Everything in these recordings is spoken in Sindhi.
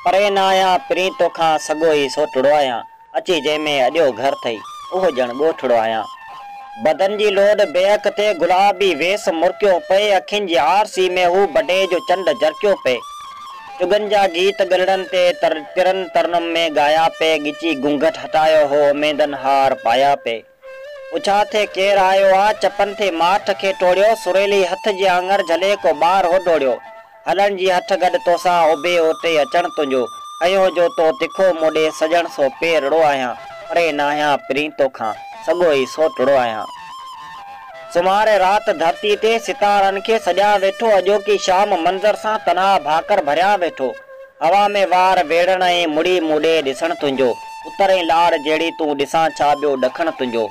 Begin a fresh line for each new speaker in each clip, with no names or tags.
پرين آهيان پرين توکان سڳو ئي سوٽڙو آهيان اچي جنهن ۾ اڏيو گهر ٿئي اهو ڄڻ ڳوٺڙو آهيان بدن جي لوڏ بيهڪ تي گلابي ويس مرڪيو پئي اکين جي آرسي ۾ هو بڊي جو چنڊ جرڪيو پئي چغن جا گيت ڳلڙن تي ترن ترنم ۾ ڳايا پئي ڳچي گهونگهٽ هٽايو هو اميدن هار پايا پئي. پڇا ٿي ڪير آيو آ؟ چپن ٿي ماٺ کي ٽوڙيو، سريلي هٿ جي آڱر جهلي ڪو ٻار هو ڊوڙيو. هلڻ جي هٺ گڏ توسان اڀي اوٽي اچڻ تنهنجو، اهو جو تو تکو مون ڏي سڄڻ سو پيرڙو آهيان، پري ناهيان پرين توکان، سڳو ئي سوٽڙو آهيان. سومهاري رات ڌرتي تي ستارن کي سڏيان ويٺو، اڄوڪي شام منظر سان تنها ڀاڪر ڀريان ويٺو. هوا ۾ وار ويڙهڻ ۽ مڙي مون ڏي ڏسڻ تنهنجو، اتر ۽ لاڙ جهڙي تون ڏسان ڇا ٻيو ڏکڻ تنهنجو.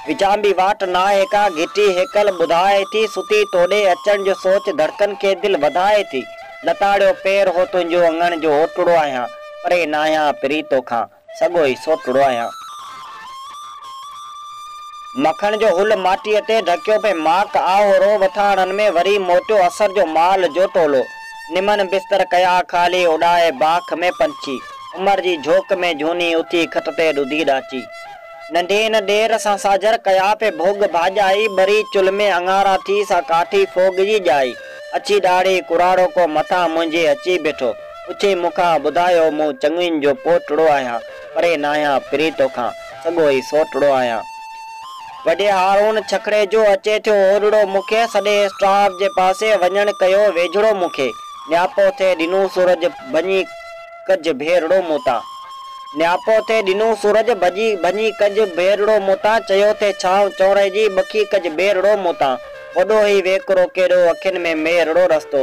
وچانڀي واٽ ناهي ڪا، گهٽي هيڪل ٻڌائي ٿي، ستي تو ڏي اچڻ جو سوچ ڌڙڪن کي دل وڌائي ٿي. لتاڙيو پير هو تنهنجو اڱڻ جو اوٽڙو آهيان، پري ناهيان پري توکان. سگهو ئي سوٽڙو آهيان. مکڻ جو هل ماٽيء تي ڍڪيو پئي ماڪ آهو رو وٿاڻن ۾ وري موٽيو اسر جو مال جو ٽولو. نمن بستر ڪيا خالي اڏائي باک ۾ پنڇي. عمر جي جهوڪ ۾ جهوني اٿي کٽ تي ڏڌي ڏاچي. ننڍين ڏير سان ساجهر ڪيا پئي ڀوڳ ڀاڄائي ٻري چلهه ۾ اڱارا ٿي سا ڪاٺي ڦوڳ جي ڄائي. اڇي ڏاڙهي ڪراڙو ڪو مٿان منهنجي اچي بيٺو. پڇيائين مون کان ٻڌايو مون چڱين جو پوٽڙو آهيان پري ناهيان پري توکان سڳو ئي سوٽڙو آهيان وڏي هارون ڇڪڙي جو اچي ٿيو اوڏڙو مون کي سڏي اسٽاف جي پاسي وڃڻ ڪيو ويجهڙو مون کي نياپو ٿي ڏنو سورج ڀڃي ڪج ڀيرڙو مون تان نياپو ٿي ڏنو سورج ڀڄي ڀڃي ڪج ڀيرڙو مون تان چيو ٿي ڇانو چونري جي ٻکي ڪج ٻيرڙو مون تان وڏو هي ويڪرو ڪيڏو اکين ۾ ميرڙو رستو